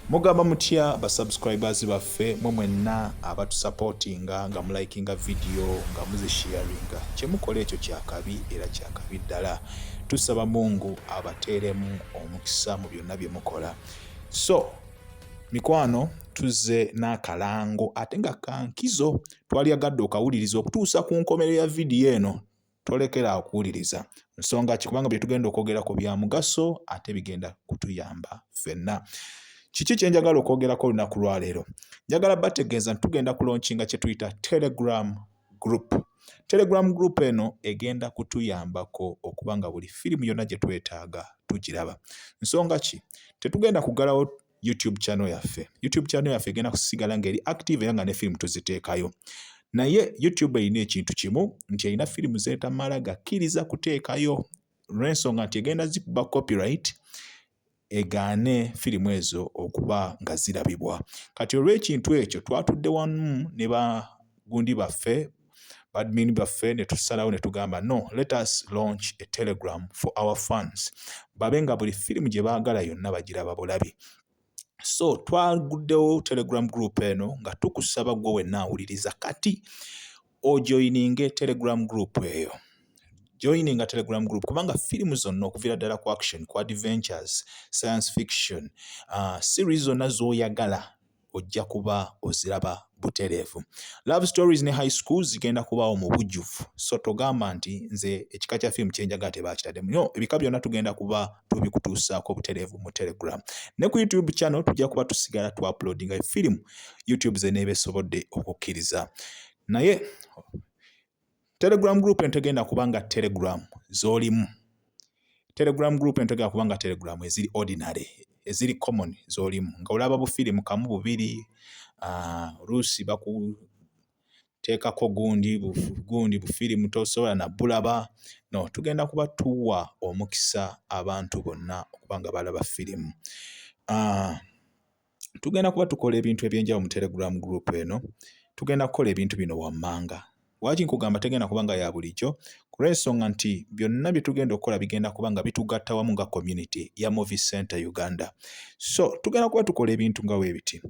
mugamba mutya ba subscribers baffe mwe mwenna abatusapotinga nga mulikinga vidiyo nga muzisharinga kyemukola ekyo kyakabi era kyakabi ddala tusaba mungu abateeremu omukisa mu byonna bye mukola so mikwano tuzze n'akalango ate nga kankizo twalyagadde okawuliriza okutuusa ku nkomerero ya vidiyo eno tolekera awo kuwuliriza nsonga ki kubanga bye tugenda okwogerako bya mugaso ate bigenda kutuyamba ffenna kiki kye njagala okwogerako olunaku lwaleero njagala bategeeza nti tugenda kulonkinga kye tuyita telegram group telegram group eno egenda kutuyambako okuba nga buli firimu yonna gye twetaaga tugiraba nsonga ki tetugenda kugalawo YouTube channel yaffe. YouTube channel yaffe egenda kusigala ng'eri active era nga ne firimu tuziteekayo. Naye YouTube erina ekintu kimu nti erina firimu zeetamala gakkiriza kuteekayo olw'ensonga nti egenda zikuba copyright egaane firimu ezo okuba nga zirabibwa. Kati olw'ekintu ekyo twatudde wamu ne bagundi baffe badmin baffe ne tusalawo ne tugamba no let us launch a telegram for our fans babe nga buli firimu gye baagala yonna bagiraba bulabi so twaguddewo telegram group eno nga tukusaba gwe wenna awuliriza kati ojoyininge telegram group eyo joining a telegram group kubanga firimu zonna okuviira ddala ku action ku adventures science fiction uh, series zonna z'oyagala ojja kuba oziraba butereevu love stories ne high schools zigenda kubaawo mu bujjuvu so togamba nti nze ekika kya firimu kyenjagala tebakitademu no ebika byonna tugenda kuba tubikutuusaako butereevu mu telegram ne ku youtube channel tujja kuba tusigala tu uploadinga firimu youtube zeneeba esobodde okukkiriza naye telegram group entegenda kubanga telegram zolimu telegram group entegenda kubanga telegram eziri ordinary eziri common zolimu nga olaba bufirimu kamu bubiri ah, oluusi uh, baku teekako gundi gundi bufirimu tosobola nabulaba no tugenda kuba tuwa omukisa abantu bonna okuba nga balaba firimu uh, tugenda kuba tukola ebintu ebyenjawulo mu telegram group eno tugenda kukola ebintu bino wammanga lwaki nkugamba tegenda kuba nga ya bulijjo kulwensonga nti byonna bye tugenda okukola bigenda kuba nga bitugatta wamu nga community ya movie center uganda so tugenda kuba tukola ebintu nga weebiti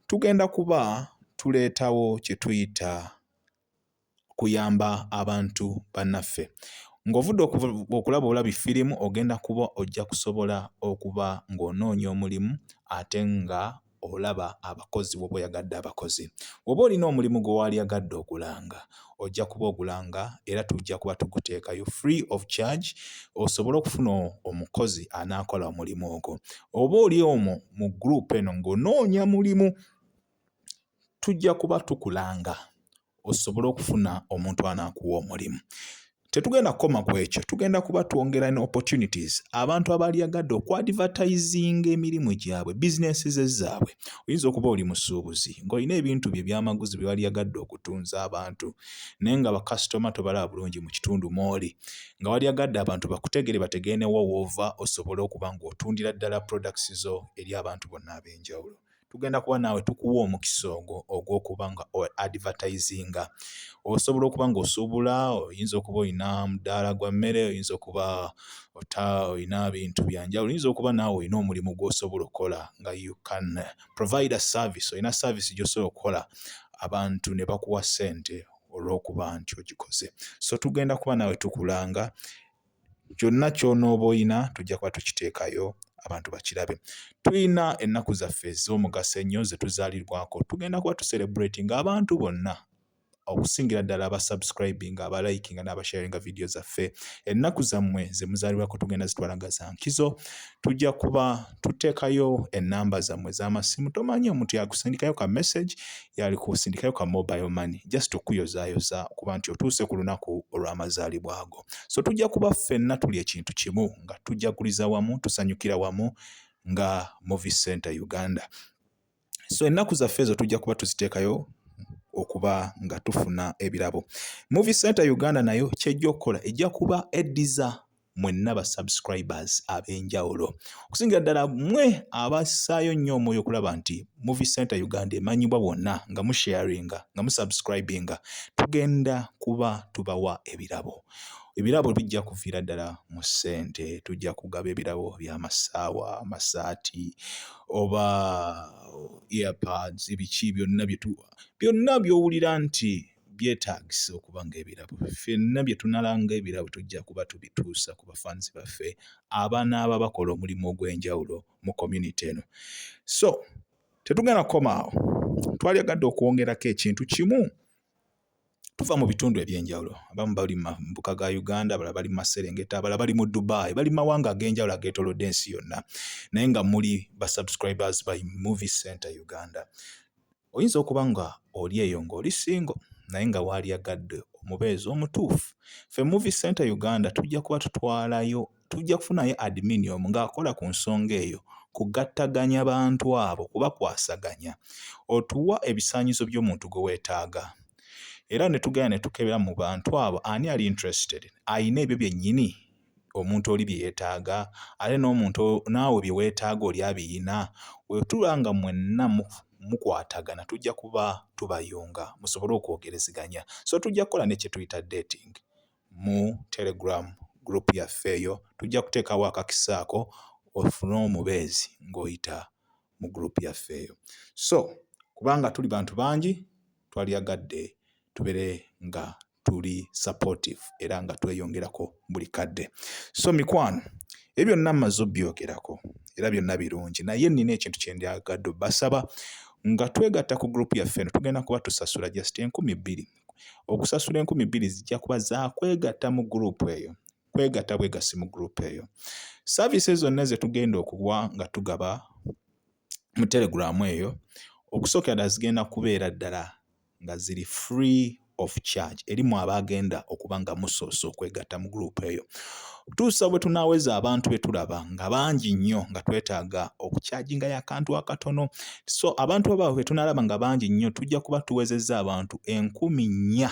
tugenda kuba tuleetawo kye tuyita kuyamba abantu bannaffe. Ng'ovudde okulaba obulabi firimu ogenda kuba ojja kusobola okuba ng'onoonya omulimu ate nga olaba abakozi woba oyagadde abakozi. Woba olina omulimu gwe waalyagadde ogulanga ojja kuba ogulanga era tujja kuba tuguteekayo free of charge osobole okufuna omukozi anaakola omulimu ogwo. Oba oli omwo mu group eno ng'onoonya mulimu tujja kuba tukulanga. osobole okufuna omuntu anakuwa omulimu tetugenda kukoma ku ekyo tugenda kuba twongera ne opportunities abantu abalyagadde okuadvertisinga emirimu gyabwe businesses zaabwe oyinza okuba oli musuubuzi ng'olina ebintu bye byamaguzi bye walyagadde okutunza abantu naye nga bakasitoma tobalaba bulungi mu kitundu mwoli nga walyagadde abantu bakutegere bategeenewo woova osobole okuba ng'otundira ddala products zo eri abantu bonna ab'enjawulo tugenda kuba naawe tukuwa omukisa ogwo ogw'okuba nga advertisinga osobola okuba ng'osuubula oyinza okuba olina mudaala gwa mmere oyinza okuba ota olina bintu byanjawulo oyinza okuba naawe olina omulimu gw'osobola okukola nga you can provide a service olina service gy'osobola okukola abantu ne bakuwa ssente olw'okuba nti ogikoze so tugenda kuba naawe tukulanga kyonna ky'onooba olina tujja kuba tukiteekayo abantu bakirabe. Tulina ennaku zaffe ez'omugaso ennyo ze tuzaalirwako. Tugenda kuba tuserebratinga abantu bonna okusingira ddala aba subscribing aba liking n'aba sharinga vidiyo zaffe ennaku zammwe ze muzaalibwako tugenda zitwala nga za nkizo tujja kuba tuteekayo ennamba zammwe z'amasimu tomanya omuntu yakusindikayo ka message yali kusindikayo ka mobile money just okuyozaayoza okuba nti otuuse ku lunaku olw'amazaalibwa ago so tujja kuba ffenna tuli ekintu kimu nga tujaguliza wamu tusanyukira wamu nga movie center uganda so ennaku zaffe ezo tujja kuba tuziteekayo okuba nga tufuna ebirabo movie center uganda nayo kyejja okukola ejja kuba eddiza mwenna ba subscribers ab'enjawulo okusingira ddala mwe abassaayo nnyo omwoyo okulaba nti movie center uganda emanyibwa bwonna nga musharinga nga musubscribinga tugenda kuba tubawa ebirabo ebirabo bijja kuviira ddala mu ssente tujja kugaba ebirabo by'amasaawa amasaati oba earpads ebiki byonna byetu byonna by'owulira nti byetaagisa okuba ng'ebirabo. Ffenna bye tunala ng'ebirabo tujja kuba tubituusa ku bafanzi baffe abanaaba bakola omulimu ogw'enjawulo mu community eno. So tetugenda kukoma awo, twalyagadde okwongerako ekintu kimu tuva mu bitundu eby'enjawulo. Abamu bali mu mbuka ga Uganda, abalala bali mu maserengeta, abalala bali mu Dubai, bali mu mawanga ag'enjawulo ageetoolodde ensi yonna, naye nga muli ba subscribers by Movie Center Uganda. Oyinza okuba nga oli eyo nga oli single naye nga waalyagadde omubeezi omutuufu. Ffe Movie Centre Uganda tujja kuba tutwalayo tujja kufunayo admin omu ng'akola ku nsonga eyo kugattaganya bantu abo kubakwasaganya. Otuwa ebisaanyizo by'omuntu gwe weetaaga era ne tugenda ne tukebera mu bantu abo ani ali interested, alina ebyo byennyini? omuntu oli bye yeetaaga ate n'omuntu naawe bye weetaaga oli abiyina. Bwe tuba nga mwenna mukwatagana tujja kuba tubayunga musobole okwogerezeganya. So tujja kukola ne kye tuyita dating mu Telegram group yaffe eyo, tujja kuteekawo akakisa ako ofune omubeezi ng'oyita mu group yaffe eyo. So kubanga tuli bantu bangi twalyagadde tubeere nga tuli supportive era nga tweyongerako buli kadde so mikwano ebyo byonna mmaze obbyogerako era byonna birungi naye nnina ekintu kye ndyagadde basaba nga twegatta ku gurupu yaffe eno tugenda kuba tusasula just enkumi bbiri okusasula enkumi bbiri zijja kuba zakwegatta mu gurupu eyo kwegatta bwegasi mu gurupu eyo saavisi zonna ze tugenda okuwa nga tugaba mu teleguramu eyo okusookera ddala zigenda kubeera ddala nga ziri free of charge eri mu abaagenda okuba nga musoose okwegatta mu guruupu eyo tuusa bwe tunaaweza abantu be tulaba nga bangi nnyo nga twetaaga okukyajinga yakantu akatono so abantu abaawe bwe tunaalaba nga bangi nnyo tujja kuba tuwezezza abantu enkumi nnya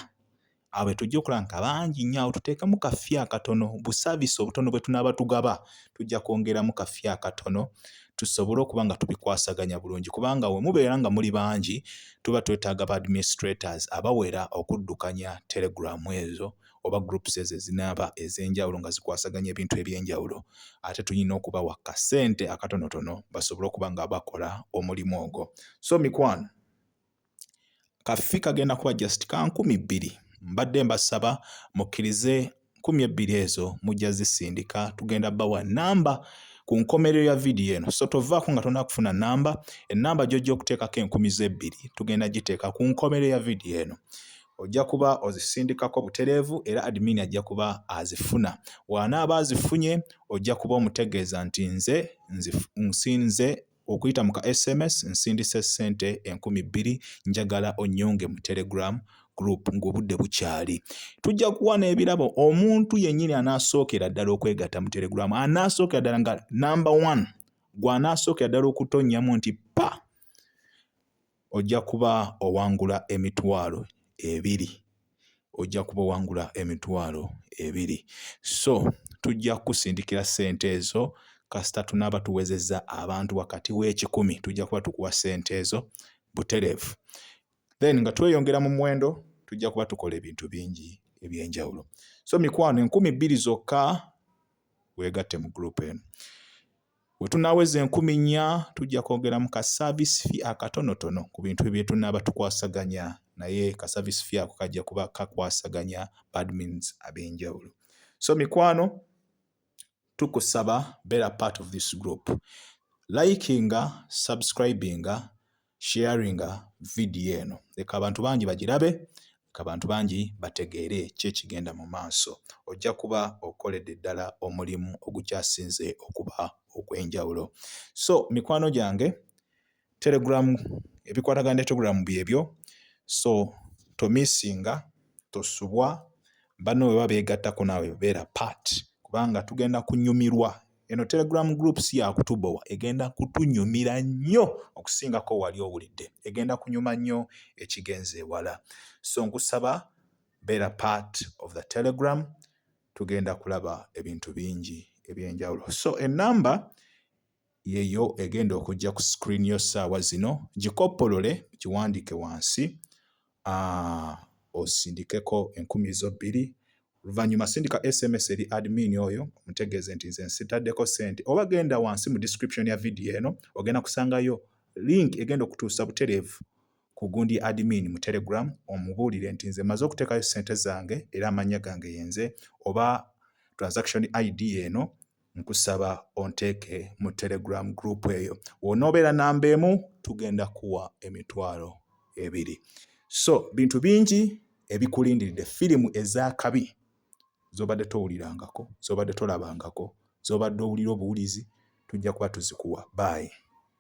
awo bwe tujja okulaba nti abangi nnyo awo tuteekemu kafi akatono busaavisi obutono bwe tunaaba tugaba tujja kwongeramu kafi akatono tusobole okuba nga tubikwasaganya bulungi kubanga we mubeera nga muli bangi tuba twetaaga ba administrators abawera okuddukanya telegramu ezo oba groups ezo ezinaaba ez'enjawulo nga zikwasaganya ebintu eby'enjawulo ate tulina okubawa kasente akatonotono basobole okuba nga bakola omulimu ogwo so mikwano Kaffi kagenda kuba just ka nkumi bbiri. Mbadde mbasaba mukkirize nkumi ebbiri ezo mujja zisindika tugenda bawa namba ku nkomerero ya vidiyo eno so tovaako nga tonna kufuna namba enamba gyojja okuteekako enkumi z'ebbiri tugenda giteeka ku nkomerero ya vidiyo eno ojja kuba ozisindikako butereevu era admin ajja kuba azifuna waanaaba azifunye ojja kuba omutegeeza nti nze nsinze Okuyita mu ka sms nsindise ssente enkumi bbiri njagala onnyunge mu telegram group ng'obudde bukyali tujja kuwa n'ebirabo omuntu yennyini anaasookera ddala okwegatta mu telegram anaasookera ddala nga number one gw'anaasookera ddala okutonnyamu nti pa Ojja kuba owangula emitwalo ebiri. Ojja kuba owangula emitwalo ebiri. So, tujja kukusindikira ssente ezo kasita tunaaba tuwezezza abantu wakati w'ekikumi. Tujja kuba tukuwa ssente ezo butereevu. Then nga tweyongera mu muwendo, tujja kuba tukola ebintu bingi eby'enjawulo. So, mikwano enkumi bbiri zokka weegatte mu guruupu eno. Bwe tunaaweza enkumi nnya, tujja kwongeramu ka service fee akatonotono ku bintu bye tunaaba tukwasaganya naye ka service fee ako kajja kuba kakwasaganya ba admins ab'enjawulo. So mikwano tukusaba beera part of this group. Likinga, subscribinga, Sharinga vidiyo eno leka abantu bangi bagirabe, leka abantu bangi bategeere ki ekigenda mu maaso. Ojja kuba okoledde ddala omulimu ogukyasinze okuba ogw'enjawulo. So mikwano gyange Telegram ebikwatagana ne Telegram byebyo so tomisinga tosubwa banno bwe babeegattako naawe beera part kubanga tugenda kunyumirwa Eno Telegram group si ya kutubowa, egenda kutunyumira nnyo okusingako wali owulidde. Egenda kunyuma nnyo ekigenze ewala. So nkusaba beera part of the Telegram, tugenda kulaba ebintu bingi ebyenjawulo. So enamba yeyo egenda okujja ku screen yo saawa zino, gikoppolole giwandike wansi osindikeko enkumi zo bbiri oluvannyuma sindika sms eri admin oyo omutegeeze nti nze nsitaddeko ssente oba genda wansi mu description ya vidiyo eno ogenda kusangayo link egenda okutuusa butereevu ku gundi admin mu telegram omubuulire nti nze maze okuteekayo ssente zange era amannya gange yenze oba transaction id eno nkusaba onteeke mu telegram group eyo wonoobeera namba emu tugenda kuwa emitwalo ebiri so bintu bingi ebikulindiridde firimu ez'akabi zobadde towulirangako zobadde tolabangako zobadde owulira obuwulizi tujja kuba tuzikuwa baayi